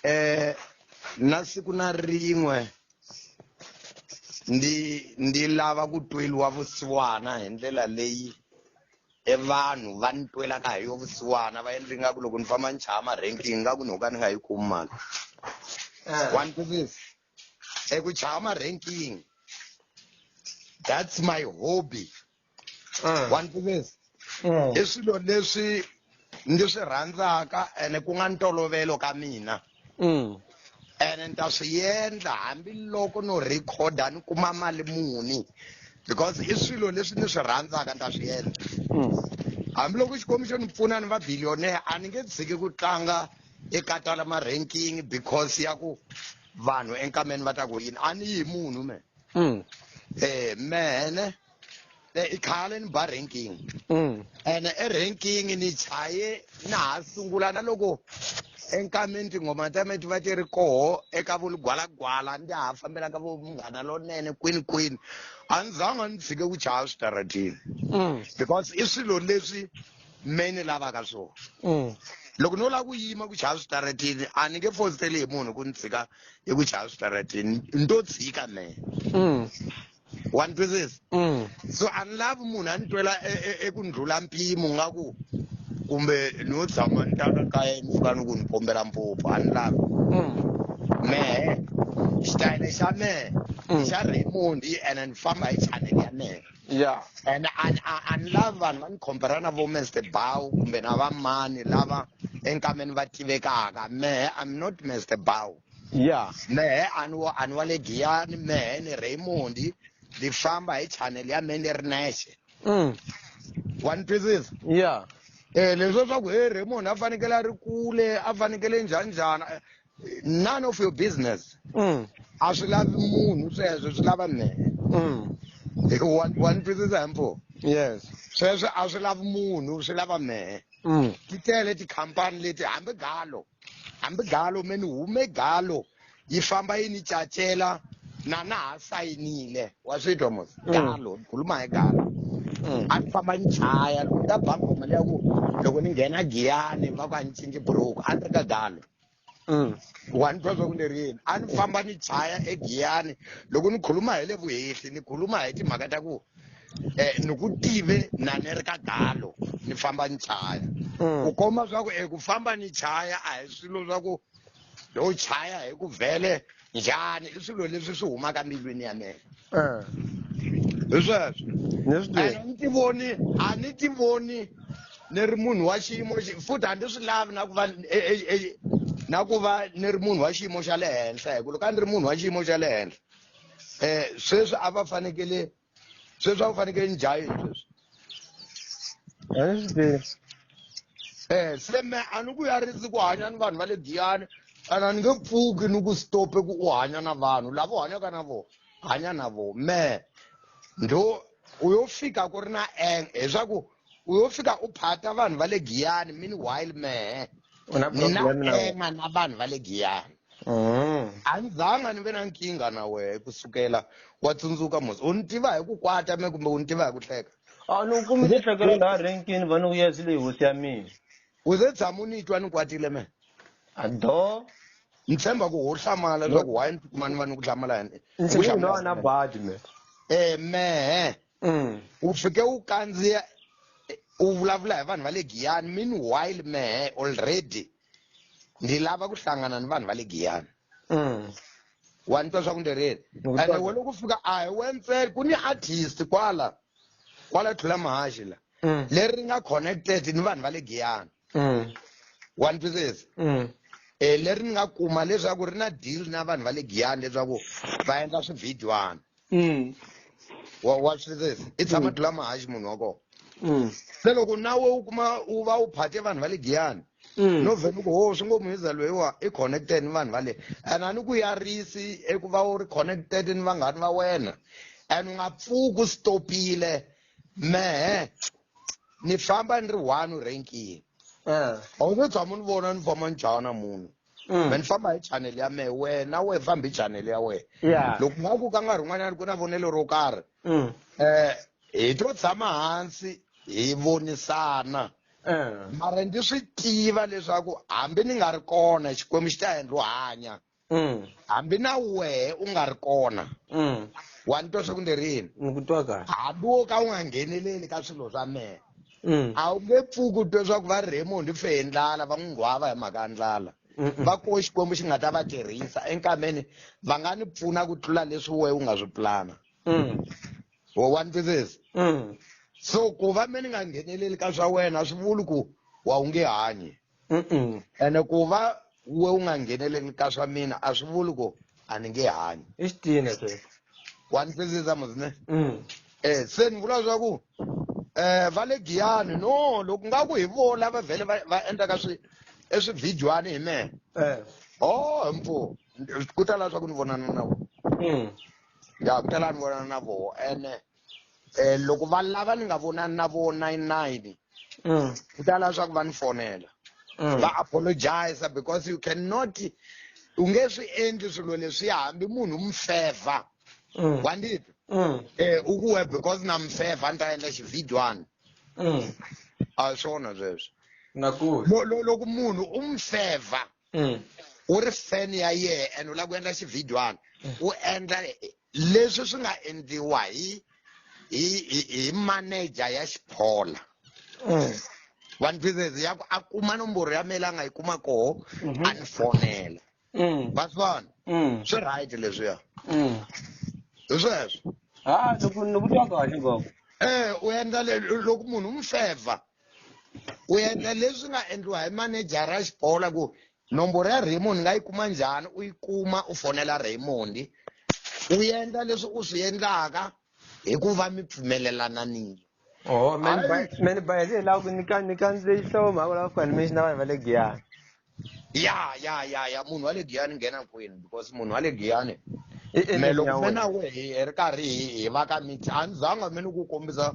eh na siku na rin'we ndi ndi lava ku tweliwa vusiwana hi ndlela leyi e vanhu va ni twelaka hi yo vusiwana va endli nga ku loko ni famba ni chaya ma-ranking nga ku ni ho ka ni nga yi kumi mali wa ni twisisa eku chaya ma-ranking that's my hobby Ah. wa ni tivisa Mm. i swilo leswi ndzi swi rhandzaka ene ku nga ntolovelo ka mina Mm. ene ni ta swi endla hambiloko no rhikhoda ni kuma mali muni because i swilo leswi ni swi rhandzaka ni ta swi endla Mm. hambiloko xikwembu xo ni pfuna ni va billionaire a ni nge tshiki ku tlanga eka tala ma-ranking because ya ku vanhu enkameni va ta ku yini a ni yi munhu me Mm. eh mene Eh, i khale ni ba ranking mm. and eranking ni chaye na ha sungula na loko enkameni tinghoma ta me ti va ti ri koho eka vulugwalagwala ndi ha fambelaka vo munghana lonene kwini kwini a ni zanga ni tshike ku chaya switaratini mm. because i swilo leswi me ni lavaka swona mm. loko no lava ku yima ku chaya switaratini a ni nge fositeli hi munhu ku ni tshika hi ku chaya switaratini ni to tshika me wa ni twisisa Mm. so a ni lavi munhu a ni twela e- e- eku ni ndlhula mpimo nga ku kumbe ni yo tshama ni ta ka kaya ni fika ni ku ni pombela mphuphu a ni lavi Mm. mehe xitayele xa mehe Mm. xa raymond ene ni famba hi chanel ya mehe Yeah. and and and lava vanhu va ni compare na vo Mr Bow kumbe na vamani lava enkameni va tivekaka mehe I'm not Mr Bow ya mehe ani wa ani wa le giyani mehe ni raymond ni famba hi channel ya me ni ri nexe mm. wa ni twisisa ya um leswo swa ku he raymond a fanekele a ri kule a fanekele njhani njhani eh, none of your business mm. a swi lavi munhu sweswo swi lava mehe mm. wa wa ni twisisa himpo yes sweswo a swi lavi munhu swi lava mehe mm. ti tele tikhampani leti hambi galo hambi galo me ni hume galo yi famba yi ni cacela na na ha sayinile wa swi twa mos mm. galo khuluma hi galo mm. a ni famba ni chaya loko ta ba ngoma leya ku loko ni nghena giyani va ku a ni cinci buruku a ni ri ka galo mm. wa ni twa swa ku ni ri yini a ni famba ni chaya egiyani loko ni khuluma hi le vuhehli ni khuluma hi timhaka ta ku eh ni ku tive na ni ri ka galo ni famba ni chaya Mm. ku komba swa ku eku famba ni chaya a hi swilo swa ku yo chaya hi ku vhele njhani i swilo leswi swi humaka mbilwini ya mina Eh, hi sweswo ni swi tiva. and ni ti voni a ni ti voni ni ri munhu wa xiyimo xi- futhi a ni swi lavi na ku va e- e- e- na ku va ni ri munhu wa xiyimo xa le henhla hi ku loko a ni ri munhu wa xiyimo xa le henhla eh sweswi a va fanekele sweswi a va fanekele njhayini sweswi a ni swi tivi eh se me a ni ku yarisi ku hanya ni vanhu va le giyani ana ni nge pfuki ni ku stope ku u hanya na vanhu lava u hanyaka na vona hanya na vona me ndho u yo fika ku ri na eng hileswaku u yo fika u phata vanhu va le giyani meanwhile mehe u na ni na problem na wena ema na vanhu va le giyani Mm. a ni zanga ni ve na nkingha na wehe ku sukela wa tsundzuka mos u ni tiva hi ku kwata me kumbe u ni tiva hi ku hleka a ni u kumi tihlekelo laha renkini va ni ku yes leyi hosi ya mina u ze tshama u ni twa ni kwatile me a do ni tshemba ku ho hlamala leswaku why ni tikuma ni va ni ku hlamala hi- ni ku ndzi lowa hlamala na badi me eh mehe mm. u fike u kandziya u vulavula hi vanhu va le giyani meanwhile mehe already ndzi lava ku hlangana ni vanhu va le giyani mm. wa ni twa swa ku ndzi rini ene we loko fika a hi we ntsena ku ni artist kwala kwala tlhula mahaxi la mm. leri ri nga connected ni vanhu va le giyani mm. wa ni twisisa mm. e leri ni nga kuma leswaku ri na deal na vanhu va le giyani leswaku va endla swivhidyoana mm. wa wa swi twisisa i tshama mm. dula mahaxi munhu wa kona mm. se loko na we u kuma u va u phate vanhu va le giyani Mm. no vhele ku ho swi ngo muhiza loyiwa i connected ni vanhu va le and a ni ku yarisi eku va u ri connected ni vanghani va wena and u nga pfuki u stopile mehe ni famba ni ri one u renkini a wu se tshama ni vona ni famba ni jaha na munhu Mm. me ni famba hi channel ya mehe wena we fambi hi channel ya wena ya loko nga ku ka nkarhi un'wanyana ku na vonelo ro karhi Mm. um hi to tshama hansi hi vonisana Eh. mara ndzi swi tiva leswaku hambi ni nga ri kona xikwembu xi ta endla u hanya Mm. hambi na wehe u nga ri kona Mm. wa ni twa swa ku ni rini Ni ku twa kahle. hambi wo ka u nga ngheneleli ka swilo swa mehe Mm. a wu nge pfuki u twe swa ku va raymond u fe hi ndlala va n'wi nghwava hi mhaka ya ndlala Mm-mm. va koho xikwembu xi nga ta va tirhisa enkameni va nga ni pfuna ku tlula leswi wehe u nga swi pulana Mm. wo wa ni twisisa Mm. so ku va me ni nga ngheneleli ka swa wena a swi vuli ku wa wu nge hanyi ene ku va we u nga ngheneleli ka swa mina a swi vuli ku a ni nge hanyi i xitina sweswo wa ni twisisa muzine mm. eh se ni vula swa ku eh va le giyani no loko nga ku hi vo lava vhele va endlaka swi e swividyuhani hi mehe eh. o oh, mpfu ku tala swa ku ni vonana na vo mm. ya ku tala ni vonana na vo ene eh loko va lava ni nga vonani na vona yi nine mm. ku ta lava swa ku va ni fonela mm. va apologize because you cannot u nge swi endli swilo leswi hambi munhu mu favor mm. wa ndi mm. eh u ku we because na mu favor ni ta endla xividywana mm. a swona sweswo loko munhu u mu favor mm. u ri fan ya yena and u lava ku endla xivhidywana mm. u endla leswi swi nga endliwa hi hi hi manager ya xiphola mm. one business ya ku a kuma nomboro ya mela a nga yi kuma koho mm-hmm. a ni fonela va swi vona swi right leswiya hi sweswo ha ni ku twa kahle ngopfu um u endla loko munhu u n'wi fevha u endla leswi nga endliwa hi manejara ya xibola ku nomboro ya raymond nga yi kuma njhani u yi kuma u fonela raymond u endla leswi u swi endlaka hi ku va mi pfumelelananile oho mani bayele hi lava ku ni ka ni kandzile xihlovo mhaka lava ku animation na vanhu va le giyani ya ya ya ya munhu wa le giyani nghena kwini because munhu wa le giyani me loko me na we hi ri karhi hi hi va ka mix a ni zanga mi ni ku kombisa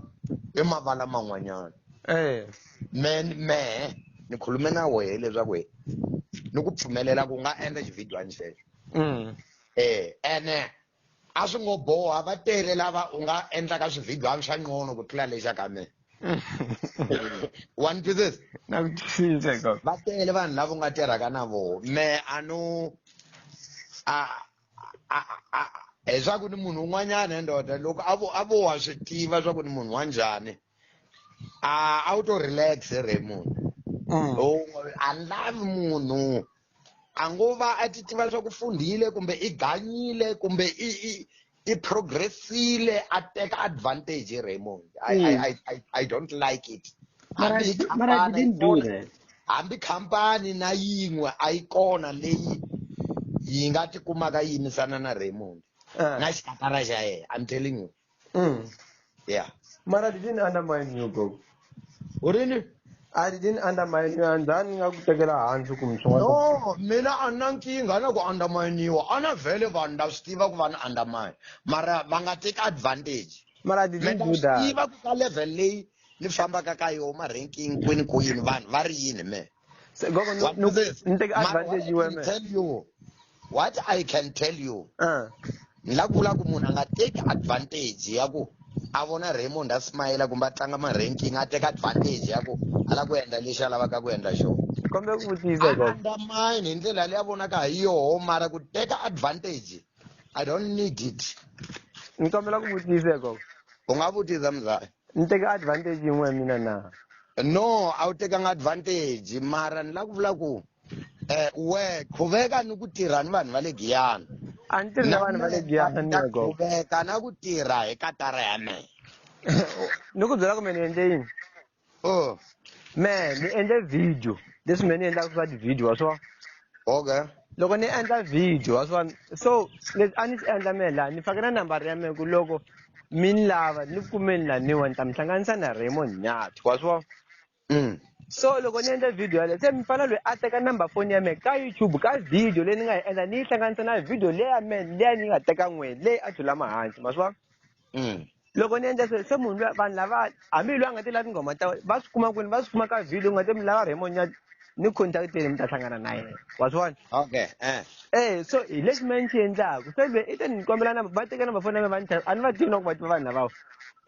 i mavala man'wanyana eh. me me ni khulume na wehe leswaku hi ni ku pfumelela ku nga endla xivhidiyani xexo um mm. eh, ene a swi ngo boha va tele lava u nga endlaka swivhidwana swa nqono ku tlula lexa ka mina one pieces na ku cinca ko va tele vanhu lava u nga tirhaka na voho me a no a leswaku ni munhu un'wanyana ndoda loko a vo a vo wa swi tiva swa ku ni munhu wa njhani a a wu to relax re munhu mm. a lavi munhu a ngo va a ti tiva swa ku fundhile kumbe i ganyile kumbe i i i progressile a teka advantage hi Raymond I, mm. I, I, I, I don't like it mara mara didn't do that hambi khampani na yin'we a yi kona leyi yi nga tikumaka yi yimisana na Raymond eh. na xikatara xa yena i'm telling you Mm. Yeah. Mara I didn't undermine you, Gogo. Oh, really? I didn't undermine you and then nga kutekela hansi kumswa. No, mina a na nkingha na ku underminiwa. A na vele vanhu na swi tiva ku va ni undermine. Mara va nga take advantage. Mara I didn't Mina do swi that. tiva ku ka level leyi ni fambaka ka yona ma-ranking kwini kwini vanhu va ri yini me. Se- gogo ni- What ni- is this? ni teke Mara, what advantage I can wena tell you, what I can tell you, Ah, ni la vula ku munhu a nga teki advantage ya ku a vona Raymond a smile kumbe a tlanga ma-ranking a teka advantage ya ku a la ku endla lexi a lavaka ku endla xona. kombe ku vutisa A gogo undermine hi ndlela leyi a vonaka ha yoho mara ku teka advantage I don't need it. ni kombela ku vutisa gogo U nga vutisa mzali. ni teka advantage yin'we ya mina na no a wu tekanga advantage mara ni la ku vula ku eh we khuveka ni ku tirha ni vanhu va le giyana a ni tirhi na vanhu va le giyana ni yego khuveka na ku tirha hi katara ya mina ni ku byela ku me ni endle yini oh me ni endle video leswi me ni endlaka swa ti-video wa swo okay loko ni endla video wa swona so leswi a ni swi endla mehe laha ni fake na nambara ya mehe ku loko mi ni lava ni ku kumeni laniwa ni ta mi hlanganisa na raymond nyati wa swi vona mm. so loko ni endla video yaleyo se mi fana loyi a teka number foni ya mehe ka youtube ka video leyi ni nga yi endla ni yi hlanganisa na video leya mehe leya ni yi nga teka n'wini leyi a thulama hansi ma swi vona mm. loko ni endla sweswo se munhu luya vanhu lava hambi hi loyi a nga ti lavi tinghoma ta va swi kuma kwini va swi kuma ka video u nga te mi lava raymond nyati ni contacteni mi ta hlangana na yena wa swi vona okay eh eh so hi lexi me ni xi endlaku se lwe i te ni kombela number va teka number foni ya me va ni a ni va tivi na ku va tiva vanhu lavawa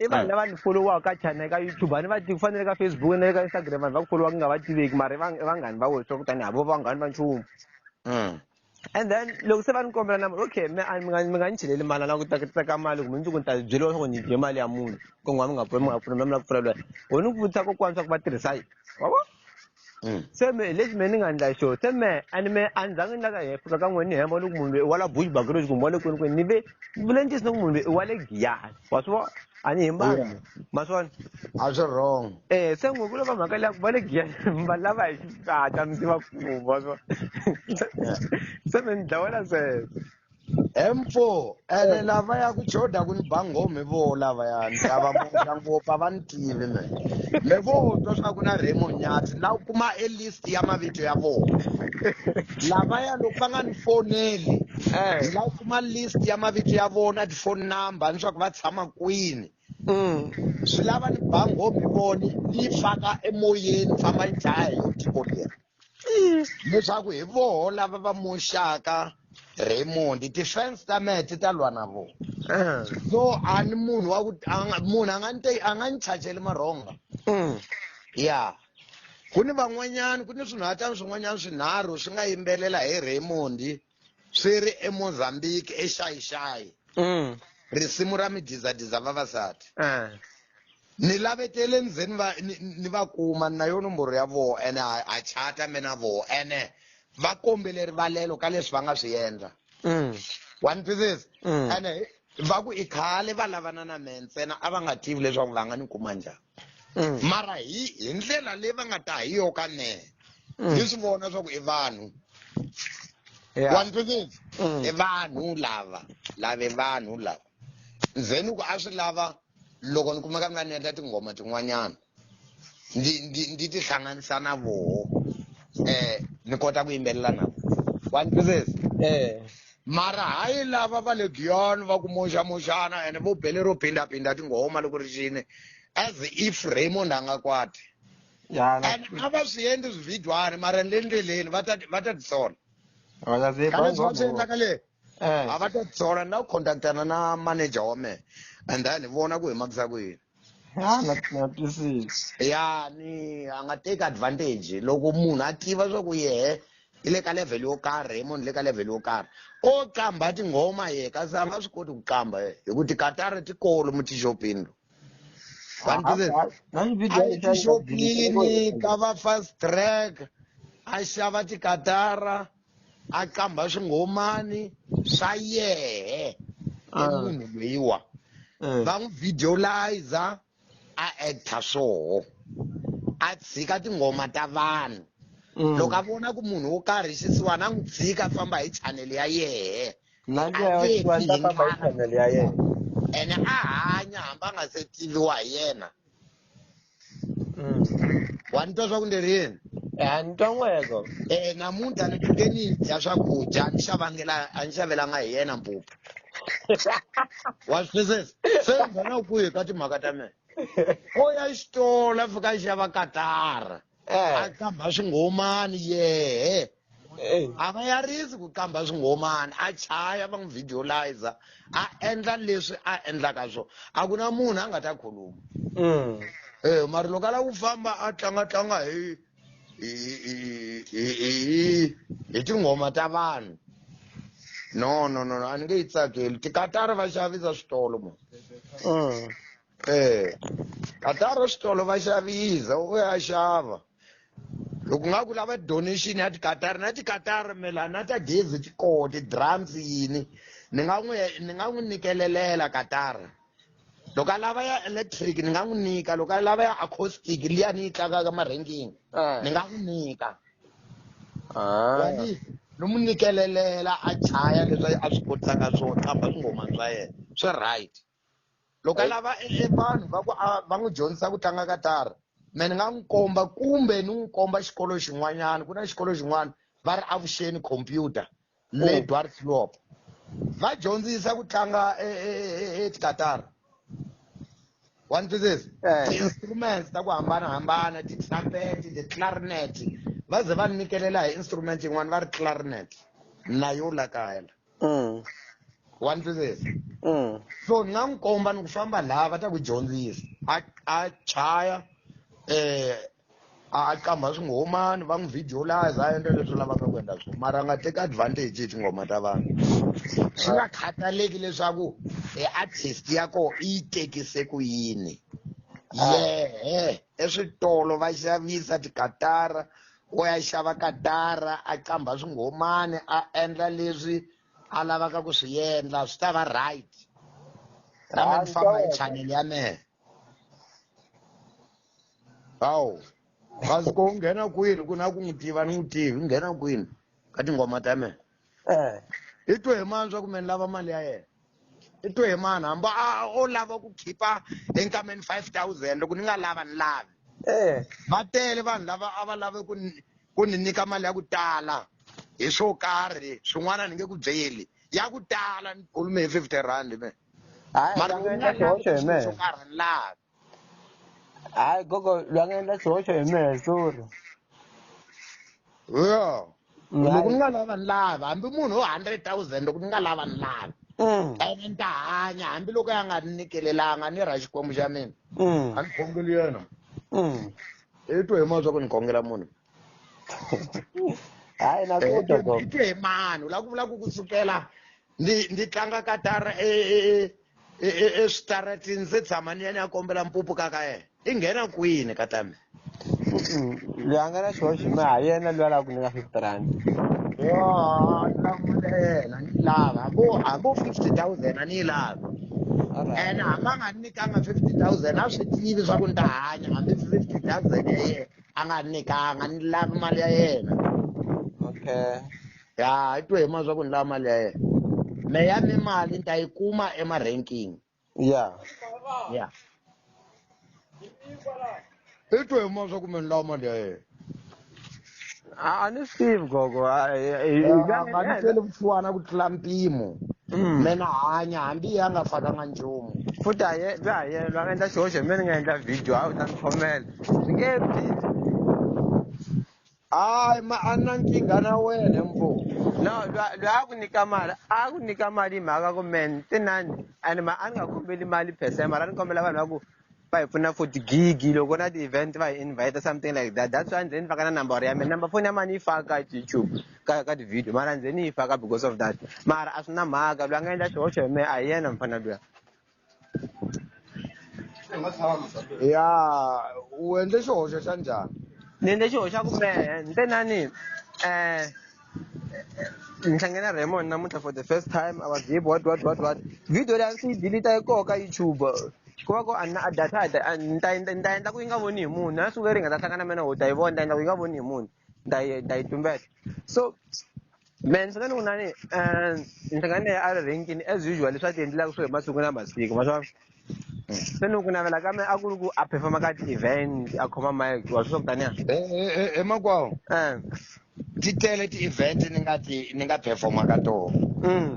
i vanhu lava ni folowaka ka channel ka youtube a ni va tivi ku fanele ka facebook na le ka instagram vanhu va ku folowa ku nga va tiveki mara i vanghani va wena swa ku tani havo vanghani va nchumu mm. and then loko se va ni kombela na okay mi mi nga ni cheleli mali a lava ku tekateka mali kumbe ndzi ku ni ta byeriwa swa ku ni dye mali ya munhu ku n'wana mi nga pfuna mi nga pfuna mi lava ku pfuna lweyi ho ni ku vutisa kokwana swa ku va tirhisa yi wa vo mm. se me hi lexi me ni nga endla xo se me and me a ni zangi ni laka hi fika ka n'wini ni hemba loko munhu loyi i wa la bush bagroj kumbe wa le kwini kwini ni ve vulentisi ni ku munhu loyi i wa le giyani wa swi vona a ni hembanga ma swi vona a swi wrong eh se n'wi ku lava mhaka leyaku va le giyanini va lava hi xisata mi tiva ku va swi se mi ni dlawela sweswo M4 ene eh. lava ya ku choda ku ni bangome vo lava ya ni lava mutla ngopfu a va ni tivi me me vo twa swa ku na Remo Nyati la u kuma e list ya mavito ya vona lava ya loko va nga ni foneli eh. la u kuma list ya mavito ya vona phone number ni swa ku va tshama kwini mm. swi lava ni bango mi voni ni yi faka emoyeni famba yi dlaya hi yo tiko leri mm. leswaku hi voho lava va moxaka Raymond defense ta mehe ti ta lwa na vona eh. so a ni munhu wa ku munhu a nga ni a nga ni chajeli marhonga mm. ya ku ni van'wanyani ku ni swinhatani swin'wanyani swinharhu swi nga yimbelela hi Raymond swi ri emozambique exayixayi mm. risimu ra midizadiza vavasati eh. ni lavetele ni ze ni va kuma na yo nomboro ya voho ene ha chata me na voho ene va kombele rivalelo ka leswi va nga swi endla mm. wa ni twisisa mm. ene va ku i khale va lavana na me ntsena a va nga tivi leswaku va nga ni kuma njhani mm. mara hi hi ndlela leyi va nga ta hi yo ka mehe mm. ni swi vona swa ku i vanhu wa ni twisisa mm. i vanhu lava lava i vanhu lava ndzeni ku a swi lava loko ni kumeka ni nga ni endla tinghoma tin'wanyana ndi ndi ndi tihlanganisa na voho um ni kota ku yimbelela na vo wa ni twisisa um mara hayi lava va le giyoni va ku moxamoxana ene vo bele ro phindaphinda tinghoma loko ri xini as if raymond a nga kwati and a va swi endli swivhidwane mara ni le ndleleni va ta va ta tisola kaleswi va swi endlaka le eh. a va ta tisola ni la ku contactana na manager wa mehe and then hi vona ku hi makisa ku yini Ah, na na twisisa. ya ni a nga teki advantage loko munhu a tiva swa ku yehe i le ka level yo karhi raymond le ka level yo karhi o qambha tinghoma ye kasi a nga swi koti ku qambha ye hi ku tikatara ti kolo mu tixopini lo Ah, One business. ah, na ni video a yi tixopini ka va fast track a xava tikatara a qambha swingomani swa yehe i ah. munhu loyiwa eh. va n'wi videoliza a actor swoho a tshika tinghoma ta vanhu mm. loko a vona ku munhu wo karhi xisiwa na n'wi tshika a famba hi chanele ya yehe ene a hanya hambi a nga se tiviwa hi yena Mm. wa ni twa swa ku ni ri yini Ya ni twa n'weko. eh namuntlha ni pfuke ni dya swakudya ni xavangela a ni xavelanga hi yena mpupu wa swi twisisa se ni nghena u kwihi ka timhaka ta mina o ya xitolo a fika a xava katara a Eh. qambha swinghomani yehe Hey. a va yarisi ku qambha swingomani a chaya va n'wi videoliza a endla leswi a endlaka swona a ku na munhu a nga ta khuluma Mm. Eh, mara loko a lava ku famba a tlanga tlanga hi hi hi- hi- hi- hi tinghoma ta vanhu no no no no, a ni nge yi tsakeli tikatara va xavisa switolo mo Mm. eh katara xitolo va xavisa u ya xava loko nga ku lava donation ya tikatara na tikatara mela na ta gezi ti koho ti-drums yini ni nga n'wi ni nga n'wi nikelelela katara loko a lava ya electric ni nga n'wi nyika loko a lava ya acoustic liya ni yi tlakaka marhengini Eh. ni nga n'wi nyika Ah. ni n'wi nikelelela a chaya leswi a swi kotisaka swona kamba swingomani swa yena swi right loko a lava e, e vanhu va ku va n'wi dyondzisa ku tlanga katara me ni nga n'wi komba kumbe ni n'wi komba xikolo xin'wanyana ku na xikolo xin'wana va ri avuxeni computer le oh. dwarflop va dyondzisa ku tlanga etikatara e, wa ni twisisa eh. ti-instruments ta ku hambanahambana ti-trumpet ti-clarinet va ze va nikelela hi instrument yin'wana va ri clarinet na yo la kaya la mm. wa ni twisisa mm. so ni nga n'wi komba ni ku famba laha va ta ku dyondzisa a a chaya eh a qambha swinghomani va n'wi videolize a endla leswi lavaka ku endla swona mara a nga teki advantage hi tinghoma ta vanhu swi nga khataleki leswaku e artist ya koho i yi tekise ku yini yehe eswitolo va xavisa tikatara o ya xava kadara a qambha swinghomani a endla leswi a lavaka ku swi endla swi ta va right na me ni famba hi channel ya mehe hawu kasi ko u nghena kwini ku na ku n'wi tiva ni n'wi tivi u nghena kwini ka tinghoma ta mehe eh. i twe hi mani swa ku me ni lava mali ya yena i twe hi mani hamba a o lava ku khipa enkameni five thousand loko ni nga lava ni lavi eh. va tele vanhu lava a va lave ku ku ni nyika mali ya ku tala hi swo karhi swin'wana ni nge ku byeli ya ku tala ni khulume hi fifty rand me mara swo karhi ni lavi hayi gogo loyi a nga endla xihoxo hi mihehluri yo loko ni nga lava ni lava hambi munhu wo hundred thousand loko ni nga lava ni lava mm. ene ni ta hanya hambiloko ya nga ni nikelelanga ni ra xikwembu xa mina mm. a ni khongeli yena mm. i twe hi mani swa ku ni khongela munhu hayi nakutwa eh, twe hi mani u la ku vula ku ku sukela ni ni tlanga katara e e e e e switarati ndzi tshama ni ya ni ya kombela mpupu ka ka yena i nghena kwini ka tami loyi a nga na xihoxo mi ha yena loyi a lava ku nyika fifty rand yolamulena ni lava hambo hambo fifty thousand a ni yi lavi ene hambi a nga ni nyikanga fifty thousand a swi tivi swa ku ni ta hanya hambi fifty thousand ya yena a nga ni nyikanga ni lavi mali ya yena okay ya i twe hi ma swa ku ni lava mali ya yena me ya mi mali ni ta yi kuma ema-ranking ya ya i twe hi ma swa ku me ni lava mali ya yena a a ni swi tivi gogo a- i- i- i- nga ni nga- tele vusiwana ku tlula mpimo Mm. me na hanya hambi ya nga fakanga nchumu futhi a ye bya ha yelwa a nga endla xihoxo hi mina ni nga endla video a wu ta ni khomela swi nge vi hayi ma a na nkingha na wena mbo no lwa- lwa a ku nyika mali a ku nyika mali hi mhaka ku men tinani and ma a ni nga kombeli mali per se mara a ni kombela vanhu va ku va hi pfuna for tigigi loko na ti-event va hi invite something like that that's why ndzeni ni faka na number ya mina number phone ya mani yi faka youtube ka ka ti-video mara ndzeni yi faka because of that mara a swi na mhaka lwa nga endla xihoxo hi mehe a hi yena mfana luya ya u endle xihoxo xa njhani ni endle xihoxo xa ku mehe ni te nani um ni hlange na raymond namuntlha for the first time i was deep what what what what video leyi a ndzi yi delita yi koho ka youtube ku va ku a na data ni ta ni ta endla ku yi nga voni hi munhu na siku leri hi nga ta hlangana mina ho ta yi vona ni ta endla ku yi nga voni hi munhu ni ta yi ni ta yi tumbeta so Man, swi nga ni ku nani um ndzi nga ni a ri renkini as usual leswi a ti endlelaka swo hi masiku na masiku ma swa se ni ku navela ka me a ku ri ku a performa ka ti-event a khoma mike wa swi swa ku taniya emakwawo um ti tele ti-event ni nga ti ni nga performa ka tona mm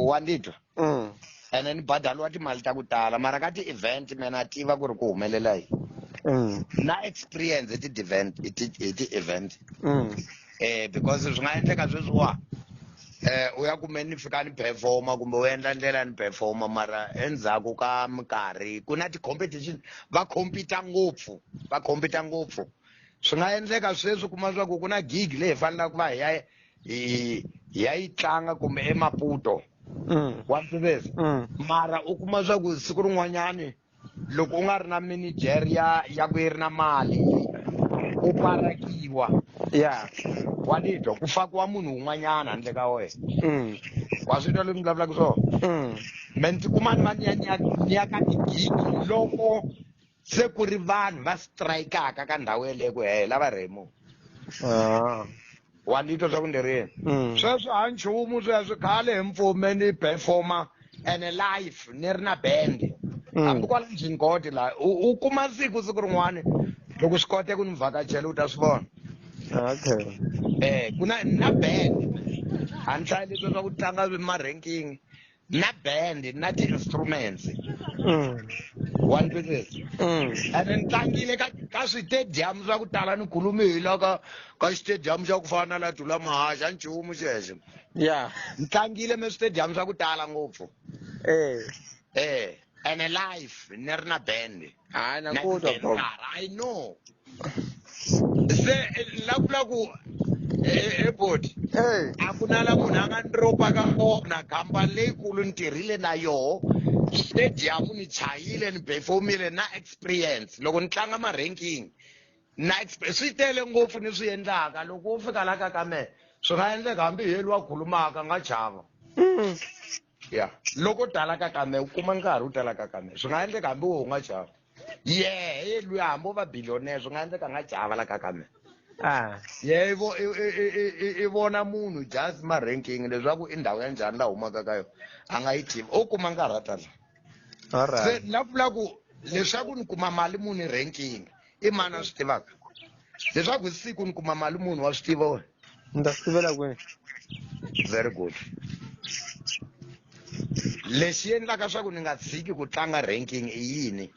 wa ndzi twa mm. and then badaliwa timali ta ku tala mara ka ti-event mena tiva ku ri ku humelela yi mm. na experience hi ti-event hi ti-event mm. eh because swi nga endleka sweswiwa eh u ya kume ni fika ni performa kumbe u endla ndlela ni performa mara endzhaku ka minkarhi ku na ti-competition va compita ngopfu va compita ngopfu swi nga endleka sweswi kuma swa ku ku na gig leyi hi fanelaka ku va hi ya hi ya yi tlanga kumbe emaputo Mm. wa mfiveza Mm. mara u kuma swa ku siku rin'wanyani loko u nga ri na manager ya ya ku yi ri na mali u parakiwa ya wa titwa ku fakiwa munhu un'wanyana handle ka wena Mm. wa swi twa leswi ni vulavulaka swona Mm. me ndzi kuma ni va ni ya ni ya ni ya ka tigigi loko se ku ri vanhu va strikaka ka ndhawu yeleyo ku hela va rhemu ah. wa ni twa swa ku ni rini mm. sweswo a nchumu sweswo khale hi mpfume ni performa ene life ni ri na band mm. hambi kwala njhini koti laha u kuma siku siku rin'wana loko swi kote ku ni vhakachela u ta swi vona okay um ku na na band a ni hlayi leswi swa ku tlanga ma-ranking na band na ti-instruments Mm. wa ni twisisa Mm. ene ni tlangile ka ka switediyamu swa ku tala ni khulume hi la ka ka xitediyamu xa ku fana na la dula mahaxa nchumu xexo ya ni tlangile me switediyamu swa ku tala ngopfu eh eh ene life ni ri na band hayi nakuda bro i know se lavula ku ebodi hey a ku na la munhu a nga ni ropaka kona khampani leyikulu ni tirhile na yoho stadium ni chayile ni performile na experience loko ni tlanga ma-ranking na expe- swi tele ngopfu ni swi endlaka loko wo fika la ka ka mehe swi nga endleka hambi hi yeli wa khulumaka nga chava mm. ya loko tala ka kame u kuma nkarhi u tala ka kame swi nga endleka hambi wo u nga chava yehe luya hambi u va billionaire swi nga endleka nga chava la ka kame ah. ye i vona munhu just ma ranking leswaku i ndhawu ya njhani la humaka ka yona a nga yi tivi u kuma nkarhi a tala se na vula ku leswaku ni kuma mali muni ranking i mani a swi tivaka leswaku hi siku ni kuma mali munhu wa swi tiva wena ni ta swi tivela kwini very good lexi endlaka swa ku ni nga tshiki ku tlanga ranking i yini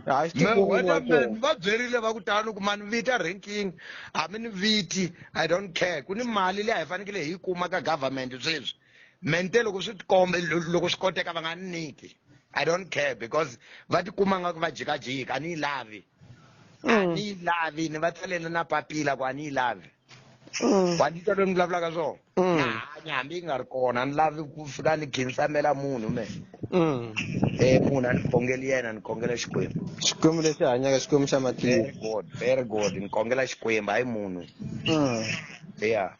hayi swi Me- tivoni wa weatherman kona va byerile va ku tala ni ku mani vita ranking a mi ni viti i don't care ku ni mali leyi a hi fanekele hi yi kuma ka government sweswi mente loko swi tikombe loko swi koteka va nga ni niki i don't care because va tikuma nga ku va jikajika a ni yi lavi a mm. ni yi lavi ni va tsalela na papila ku a ni yi lavi mm. wa ni twa loyi ni vulavulaka swona mm. na hanya hambi yi nga ri kona ni lavi ku fika ni khinsamela munhu me um munhu a ni khongeli yena ni khongela xikwembu xikwembu lexi hanyaka xikwembu xa matiko very good very good ni khongela xikwembu hayi munhu ya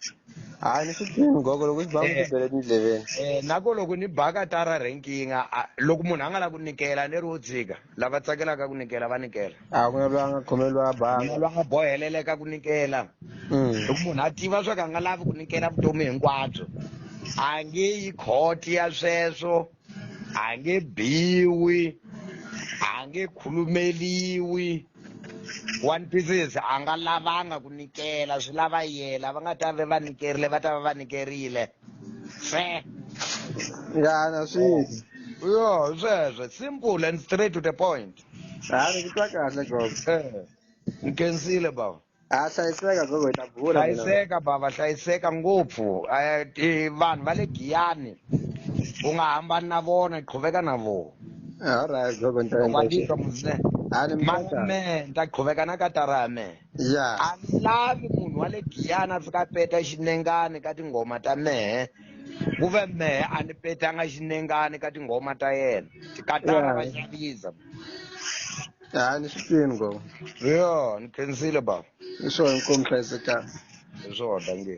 hayi ni swi tivi mugoko loko xi ba mi tibele tindleveni Eh, na ko loko ni baka tara ranking a- a- loko munhu a nga la ku nikela ni ri wo tshika lava tsakelaka ku nikela va nikela a ku na loyi a nga khomeliwa a mina banga lwa nga boheleleka ku nikela Mm. loko munhu a tiva swa ku a nga lavi ku nikela vutomi hinkwabyo a nge yi khoti ya sweswo a nge biwi a nge khulumeliwi one pieces a nga lavanga ku nikela swi lava yela va nga ta ve va nikerile va ta va va nikerile fe ngana sweswi yo sweswe simple and straight to the point hayi ni ku twa kahle gogo Eh, ni kensile baba ha hlayiseka gogo hi ta bula hlayiseka bava hlayiseka ngopfu eh, vanhu va le giyani u nga hambani na vona qhuveka na vona alright gogo ntakwandika muzne malume nta qhuveka na katara ya mehe a ni lavi munhu wa le giyani a fika peta xinengani ka tinghoma ta mehe ku ve mehe a ni petanga xinengani ka tinghoma ta yena tikatara va xavisa hayi ni swi twini go yo ni khensile baba i swona nkomi hlayisekanga hi swona nge